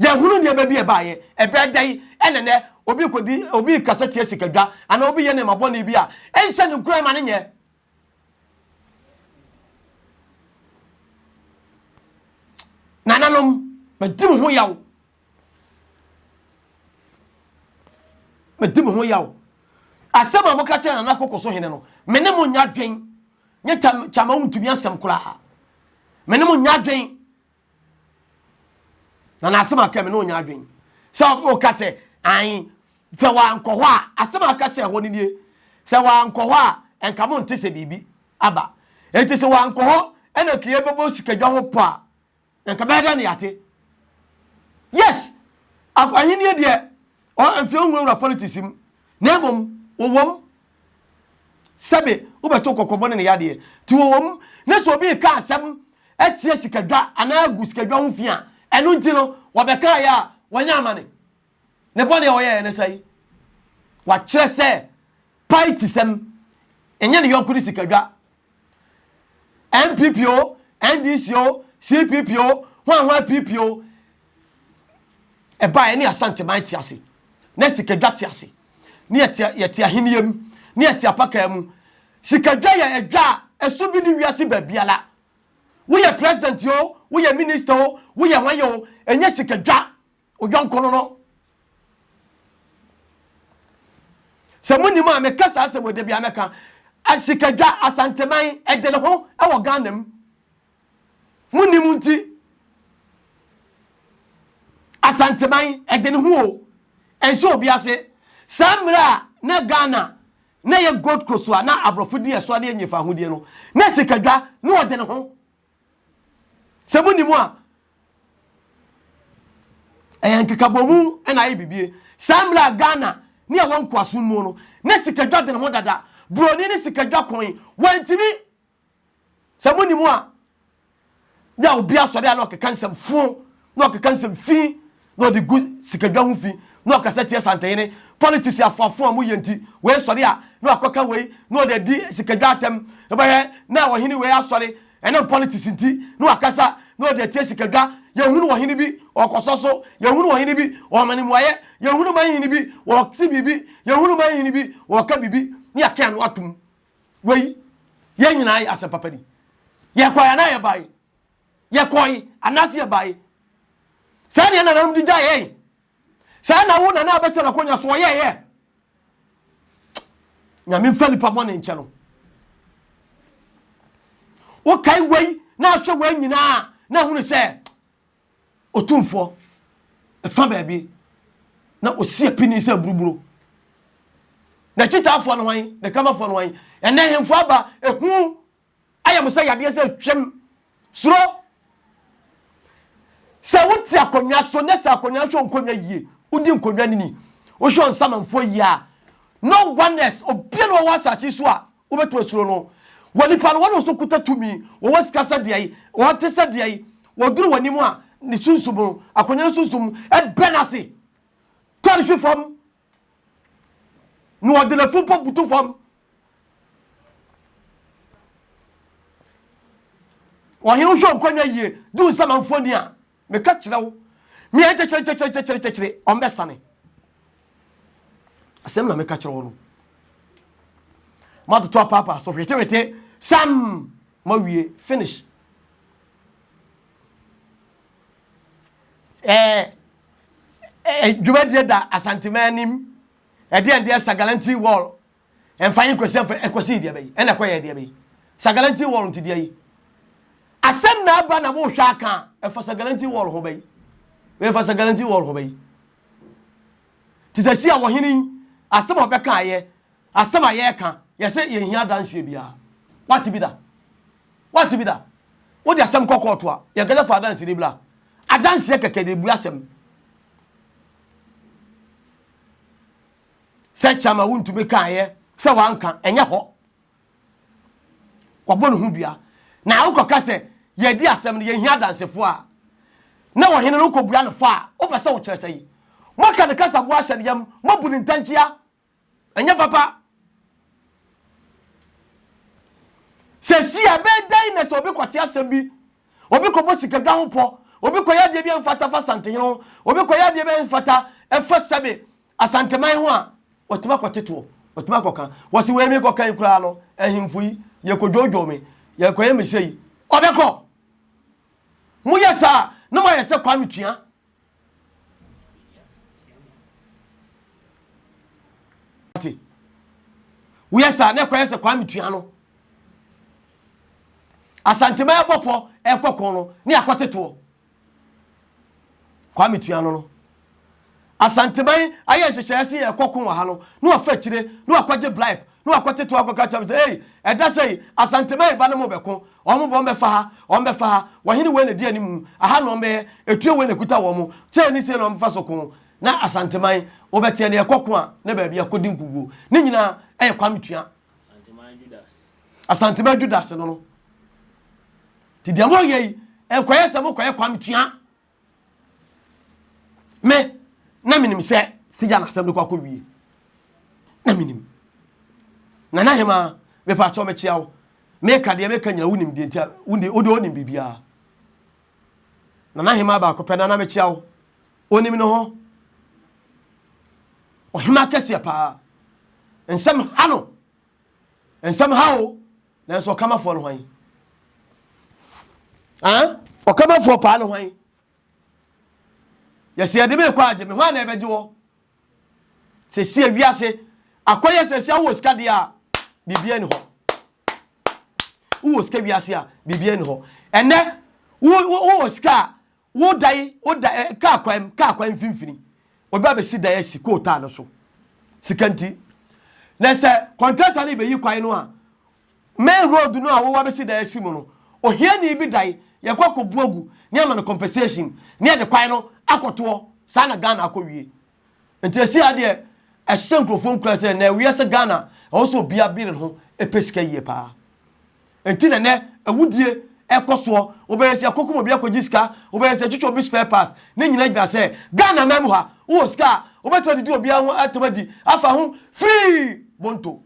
yɛhunu nneɛma bi ɛbaeɛ ɛbɛɛ da yi ɛnɛ nɛ obi kɔdi obi kasa tia sikadwa anaa obi yɛ nneɛma bɔne bi a ɛnhyɛ ne nkura ma ne nyɛ nananom madi mo ho yaw medi mo ho yaw asɛm a moka kyerɛ nana koko so hene no me ne mo nya dwen nye kyama wontumi asɛm koraa me ne mo nya dwen na na asɛm aka me ne onya adwen sɛ ɔka sɛ an sɛ wankɔ hɔ a asɛm aka hyɛ hɔ no nie sɛ wankɔ hɔ a ɛnka mo nte sɛ biribi aba ɛnti sɛ wankɔ hɔ ɛna kiyɛ bɛbɔ sikadwa ho pɔ a Nka bɛyɛ dɛ na yɛate. Yes, ahenni deɛ mfie nwurawura politics mu na mmom wɔwɔm sɛbe wobɛto kɔkɔbɔ ne ne yadeɛ nti wɔwɔm ne sɛ obi reka asɛm atia sikadwa anaa agu sikadwa ho fi a ɛno nti no wɔbɛkaeɛ a wɔnyɛ amane. Ne bɔne a ɔyɛeɛ ne sɛn? Wakyerɛ sɛ paetisɛm ɛnyɛ ne yɔnko ne sikadwa. NPP o, NDC o, CPP o, hwan hwan PP o, ɛbaeɛ ne Asanteman te ase, ne sikadwa te ase, ne yɛte ahenniɛ mu, ne yɛte apakaa mu. Sikadwa yɛ adwa a ɛso bi ne wiase baabiara. Woyɛ president o, woyɛ minister o, woyɛ hwan o, ɛnyɛ sikadwa. wo yɔnko no no sɛ monim a meka saa sɛ wɔda bia mɛka asikadwa asanteman ɛde ne ho wɔ ghana mu monim nti asanteman ɛde ne ho o ɛnhyɛ obi ase saa mmerɛ a na ghana na yɛ gold coast a na aborɔfo di ɛso adeɛ nyefa ahodeɛ no na sikadwa na ɔde ne ho sɛ mu ni mu a ɛyɛ nkekabomu na ayɛ bibie saa mmerɛ a ghana ne ɛwɔ nkoasom mu no ne sikadwa dene ho dada buroni ne sikadwa kɔn wantumi sɛ mu ni mu a yɛ obi asɔre a na ɔkeka nsɛm fo na ɔkeka nsɛm fi na ɔde gu sikadwa ho fi na ɔkasa tia Santehene. Politisi afoafo a moyɛ nti, wei sɔre a na wakɔka wei na ɔde adi sikadwa atɛm. Wobɛhwɛ na ɔhene wei asɔre, ɛnam politisi nti, na wakasa na ɔde atia sikadwa. Yɛnhunu ɔhene bi ɔkɔsɔ so, yɛnhunu ɔhene bi ɔma no mmuaeɛ, yɛnhunu manhene bi ɔte biribi, yɛnhunu manhene bi ɔka biribi na yɛake ano atom. Wei, yɛn nyinaa yɛ asɛmpapa ni. Yɛkɔe anaa yɛbae? yɛkɔe anaase yɛbae. Saa nea nananom de gyae yɛn. Saa na wo nana a bɛtɛ no akonya so ɔyɛ yɛ. Nyame mfa nipa bɔne nkyɛ no. Wokae wei na ahwɛ wei nyinaa na ahunu sɛ otumfoɔ ɛfa baabi na osi apini sɛ buruburo. Na kyitaafoɔ no hwan, na kamafoɔ no hwan, ɛnɛ hemfo aba ehu Ayɛ mo sɛ yadeɛ sɛ twam suro. Sɛ wote akonnwa so na sɛ akonnwa nhwɛ nkonnwa yie, wodi nkonnwa no ni, wohwɛ ɔnsamanfoɔ yie a, no oneness, obia na ɔwɔ asase so a wobɛtumi asuro no. Wɔ nipa no, wɔn nso kuta tumi, wɔwɔ sika sɛ deɛ yi, wɔte sɛ deɛ yi, wɔduru w'anim a, ne sunsum no, akonnwa no sunsum, ɛbɛ no ase, tɔ no hwe fam, Na ɔde n'afu mpo butu fam. Ɔhene wohwɛ wo nkɔnya yie du nsɛm amfoɔ ni a meka kyerɛ wo mea nkyɛkyerɛ nkyɛkyerɛ nkyɛkyerɛ nkyɛkyerɛ ɔmbɛsane asɛm na meka kyerɛ wo no matoto apaapa so hwetewete sam mawie finish eh, dwumadie da Asanteman anim, ɛdeɛ ɛdeɛ Sagalanti wall, ɛmfa yi nkɔsi ɛmfa ɛkɔsi deɛ bɛyi, ɛna ɛkɔyɛ deɛ bɛyi. Sagalanti wall nti deɛ yi. Asɛm na aba na mohwɛ aka a, ɛfa Sagalanti wall ho bɛyi. Ɛfa Sagalanti wall ho bɛyi. Te sɛ si a wɔhene asɛm a ɔbɛka ayɛ, Asɛm a yɛreka, yɛse yɛnhia adanseɛ biara. Woate bi da? Woate bi da? Wode asɛm kɔ kɔɔto a, yɛnkasa fa adanseni bra. Adanseɛ kɛkɛ de bue asɛm. Sɛ Chama wontumi kaeɛ sɛ wanka, ɛnyɛ hɔ. Wabɔ ne ho dua. Na wokɔka sɛ yɛadi asɛm no, yɛnhia adansefoɔ a, na ɔhene no wokɔbua no fɔ a, wopɛ sɛ wokyerɛ sɛn? Moaka ne kasagoa ahyɛ ne yam, moabu ne ntɛnkyea Ɛnyɛ papa. Sɛ si a bɛyɛ dɛn na sɛ obi kɔte asɛm bi, obi kɔbɔ sikadwa ho pɔ, obi kɔyɛ adeɛ bi a mfata fa Asantehene ho, obi kɔyɛ adeɛ bi a mfata ɛfa sɛbe Asanteman ho a, ɔtumi akɔte toɔ, ɔtumi akɔka. Wɔsi wei mekɔka yi koraa no, ahemfo yi, yɛkɔdwoodwoo me, yɛkɔyɛ me sɛ yi. Ɔbɛkɔ. Moyɛ saa na moayɛ sɛ Kwame Tua. woyɛ saa na ɛkɔyɛ sɛ kwame tua no asantema ɛbɔ pɔ ɛkɔ kɔn no ne akɔtetoɔ kwame tua no no asanteman ayɛ nhyehyɛeɛ se yɛkɔ ko wɔ ha no na wafa akyire na wakɔgye blipe na wakɔte to akɔka kyerɛ me sɛ, Ei, ɛda sɛ yi, Asanteman ba no mo bɛko, wɔn bɔ bɛfa ha, wɔn bɛfa ha, wɔhene wei na ɛdi animu, aha na wɔn bɛyɛ, etuo wei na ɛkuta wɔn, sei ne sei na wɔn bɛfa so ko, na Asanteman, wobɛteɛ deɛ ɛkɔ ko a, ne baabi a ɛkɔdi nkuguo, ne nyinaa ɛyɛ Kwame Tua. Asanteman Judas. Asanteman Judas no no. Nti deɛ moyɛ yi, ɛnkɔyɛ sɛ mokɔyɛ Kwame Tua. me na menim sɛ sigya n'asɛm no kɔ akɔ wie na menim na na hema mepa akyɛw mekyia wo meka deɛ meka nyina wonim deɛ nti wode wode wonim biribiara na na hema baako pɛ na na mekyia wo onim no ho ɔhema kɛseɛ paa nsɛm ha no nsɛm ha o Nanso ɔkamafoɔ no hwan? Ah, ɔkamafoɔ paa no hwan? Yɛsɛ yɛde me kɔ agye me hwan na ɛbɛgye wɔ? Sɛsi awiase akɔyɛ sɛsi a wowɔ sika deɛ a biribiara ni hɔ. Wowɔ sika wiase a biribiara ni hɔ. Ɛnɛ wowɔ sika a Wo dan, wo dan, eh, kaa kwan, kaa kwan mfimfini. Obi abɛsi dan asi coal tar no so. Sika nti. Na sɛ kɔntrata no bɛyi kwan no a, main road no a wowɔ abɛsi dan asi mu no, ohiani bi dan, yɛkɔ akɔbu agu, ne ama no compensation, ne yɛde kwan no akɔtoɔ. Saa na Ghana akɔwie. nti ɛsi adeɛ ɛhyɛ nkurɔfoɔ nkura sɛ na ɛweɛ sɛ ghana ɛwɔ sɛ obia bere ho ɛpɛ sika yie paa nti na nɛ awudie ɛkɔ soɔ wobɛyɛ sɛ ɛkɔkɔm obi akɔgye sika wobɛyɛ sɛ twitwa obi spare parts ne nyina gyina sɛ ghana nan mu ha wowɔ sika a wobɛtumi adidi obia ho atam adi afa ho firii bonto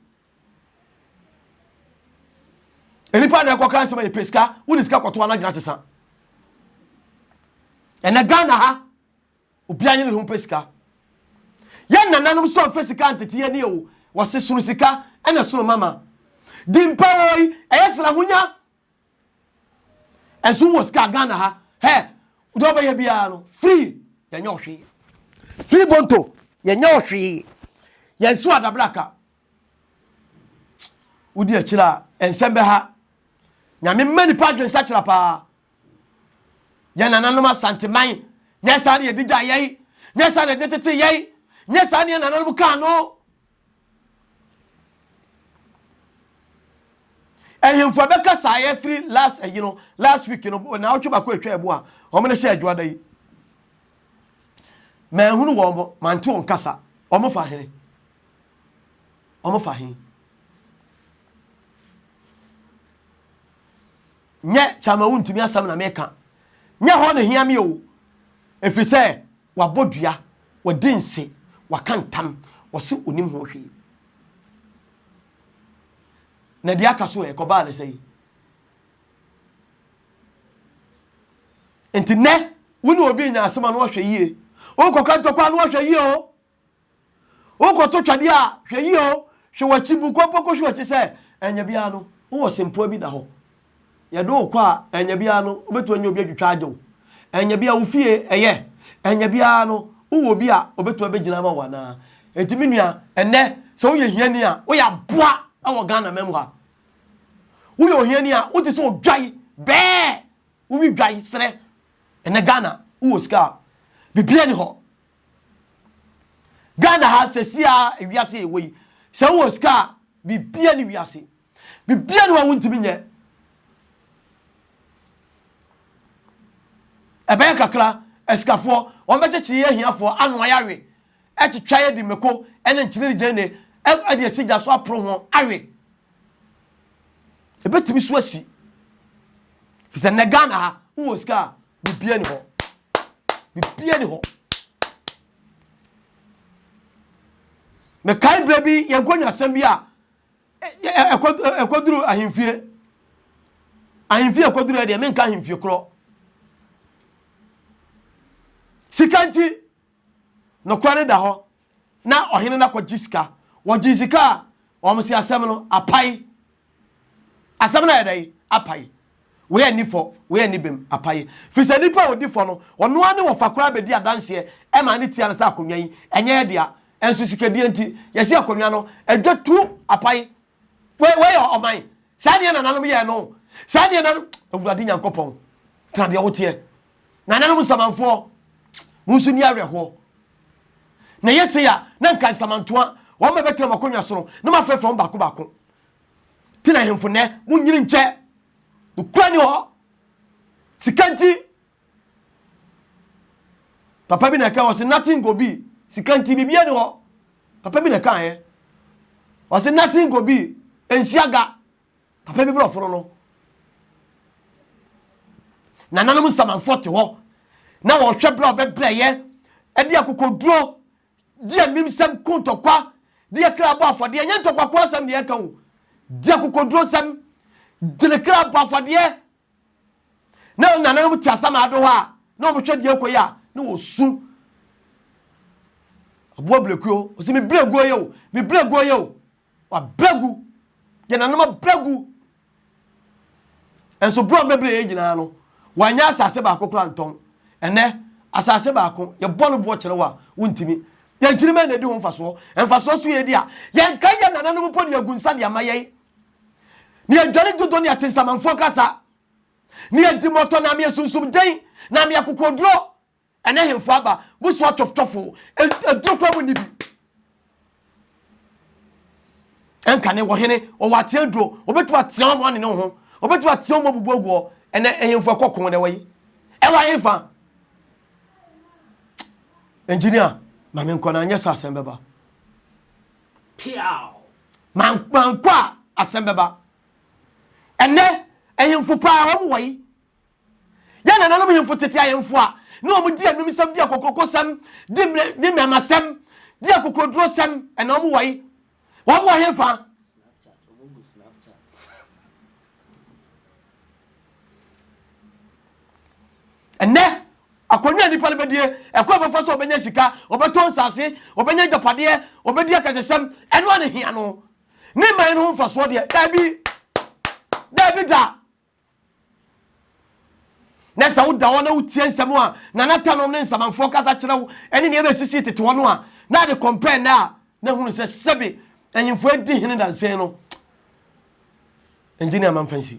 nnipa na ɛkɔka nsɛm yɛ pɛ sika wode sika kɔtoa no adwena sesa ɛnɛ ghana ha Obiara nye ne ho mpɛ sika. Yɛn nananom nso amfa sika antete yɛn ani o. Wɔse sono sika na sono mama. Dimpa oi, ɛyɛ sɛ na honya nso wɔ sika Ghana ha. Hɛ, deɛ ɔbɛyɛ biara no, free, yɛnyɛ ɔhwee. Free Bonto, yɛnyɛ ɔhwee. Yɛn nso adabraka, wodi akyire a nsɛm bɛha nyame mma nipa adwensakyera paa yɛ nananom asanteman nyɛ saa ne yɛde gya yɛi nyɛ saa ne yɛde tete yɛi nyɛ saa ne yɛ nananom kaa no ahemfo a bɛka saa yɛfiri last ayi no last week no na wotwe baako atwa ɛbo a wɔn ne hyɛ adwoada yi manhunu wɔn mante wɔn kasa wɔn fa hene Wɔn fa he? Nyɛ kyama wontumi asɛm na meka. Nyɛ hɔ na hia me o. Ɛfiri sɛ wabɔ dua, wadi nse, waka ntam, ɔse onim ho hwee. Na deɛ aka so ɛ, kɔbaa ne sɛ yi. Nti nɛ, wo ne obi nya asɛm a na ɔhwɛ yie. Wokɔka ntɔkwa a na ɔhwɛ yie o. Wokɔto twɛdeɛ a, hwɛ yie o, hwɛ w'akyi, bu kɔmpɔ kɔhwɛ w'akyi sɛ ɛnyɛ biara no wowɔ sempoa bi da hɔ. Yɛde wo kɔ a, ɛnyɛ biara no wobɛtumi anya obi atwitwa agye wo. Ɛnyɛ biara wo fie yɛ, ɛnyɛ biara no wowɔ obi a ɔbɛtumi abɛgyina ama wo anaa. Enti me nua, ɛnnɛ sɛ woyɛ hiani a, woyɛ aboa wɔ Ghana man mu ha. Woyɛ ohiani a, wote sɛ odwan bɛɛ, wowi dwan serɛ. Ɛnnɛ Ghana, wowɔ sika a, biribiara nni hɔ. Ghana ha sɛsi a wiase yɛwɔ yi, sɛ wowɔ sika a, bibia ne wiase. Bibia ne wa wontumi nyɛ. Ɛbɛyɛ kakra, asikafoɔ, wɔbɛkyekyere yɛ ahiafoɔ, ano ayɛ awe. Ɛtwitwa yɛ de mmeko ne nkyene ne gyeene ɛde asi gya so aporo ho awe. Ɛbɛtumi so asi. Fisɛ nnɛ Ghana ha, wowɔ sika a, biribiara ni hɔ biribiara ni hɔ mekae berɛ bi yɛn kɔnwasɛm bi a ɛkɔduru ahemfie ahemfie ɛkɔduru ɛdeɛ menka ahemfie korɔ sika nti Nokorɛ no da hɔ, na ɔhene no akɔgye sika. Wɔgyee sika a, wɔn se asɛm no apae. Asɛm no ayɛ dɛn? Apae. Wei anni fɔ, wei anni bem. Apae. Firi sɛ nipa a ɔdi fɔ no, ɔno ara ne wɔfa koraa bɛdi adanseɛ ma ne tia no sɛ akonnwa yi, ɛnyɛ yɛ dea. Nso sikadie nti, yɛse akonnwa no, ɛdwa tu. Apae. wei wei yɛ ɔman saa deɛ nananom yɛ no saa deɛ nan awurade nyankopɔn tena deɛ woteɛ nananom nsamanfoɔ mo nso ni awerɛhoɔ na yɛ sei a na nka nsamantoa wɔn bɛ bɛtena mo akonnwa soro na mo afrɛfrɛ wɔn baako baako tena ahemfo nnɛ mo nyini nkyɛ nokura ni hɔ sika nti papa bi na ɛka ɔsi nothing go be sika nti biribiara ni hɔ papa bi na ɛka yɛ ɔsi nothing go be nhyia ga papa bi borɔfo no no nananom nsamanfoɔ te hɔ na wɔhwɛ berɛ a ɔbɛbrɛyɛ ɛde akokoduro de animsɛm ko ntɔkwa de akra bɔ afɔdeɛ nyɛ ntɔkwa ko asɛm deɛ ɛka o de akokoduro sɛm de ne kra bɔ afɔdeɛ na nananom te asamado hɔ a na wɔhwɛ deɛ kɔ yi a na wɔsu aboa blakuo ɔsɛ mebrɛ guo yɛ o mebrɛ guo yɛ o wabrɛ gu deɛ nanom abrɛ gu nso berɛ a wɔbɛbrɛ yɛ nyinaa no wɔanyɛ asase baako koraa ntɔn ɛnɛ asase baako yɛbɔ no boɔ kyerɛ wo a wontumi yɛnkyiri mɛ na ɛdi ho mfasoɔ mfasoɔ so yɛdi a yɛnka yɛ nananom mpo ne agu nsa de ama yɛn ne adwane dodo ne atensamanfoɔ kasa, ne adi mmɔtɔ na meɛ sunsum den, na meɛ kokoduro, ɛnɛ hemfo aba, busoa tɔftɔfo, aduro kura mu nni bi. Ɛnka ne wɔhene, wɔwɔ ateɛ aduro, wɔbɛtumi ateɛ wɔn ɔne ne ho, wɔbɛtumi ateɛ wɔn abubu aguɔ, ɛnɛ hemfo ɛkɔ kɔn na wɔyi. Ɛwɔ hefa? Engineer, ma menkɔ na anyɛ sɛ asɛm bɛba. Mankɔ a asɛm bɛba. Ɛnɛ ahemfo paa wɔn wɔ yi. Yɛn nananom hemfo tete ahemfo a na wɔn di anumsɛm di akokorokosɛm di mmerɛ di mmɛmasɛm di akokorodurosɛm ɛna wɔn wɔ yi. Wɔn wɔ hefa? ɛnɛ akonnwa a nipa no bɛdie ɛkɔ ɛbɛfa so ɔbɛnya sika ɔbɛtɔ nsase ɔbɛnya agyapadeɛ ɔbɛdi akasɛsɛm ɛno a ne hia no ne man no ho mfasoɔ deɛ daabi daabi da na sɛ woda hɔ na wotie nsɛm a nanatanɔm ne nsamanfoɔ kasa kyerɛ wo ne nea ɛbɛsisii tete hɔ no a na de kɔmpɛ nnɛ a na hunu sɛ sɛbe anyimfoɔ adi hene dansen no engineer mamfa nsi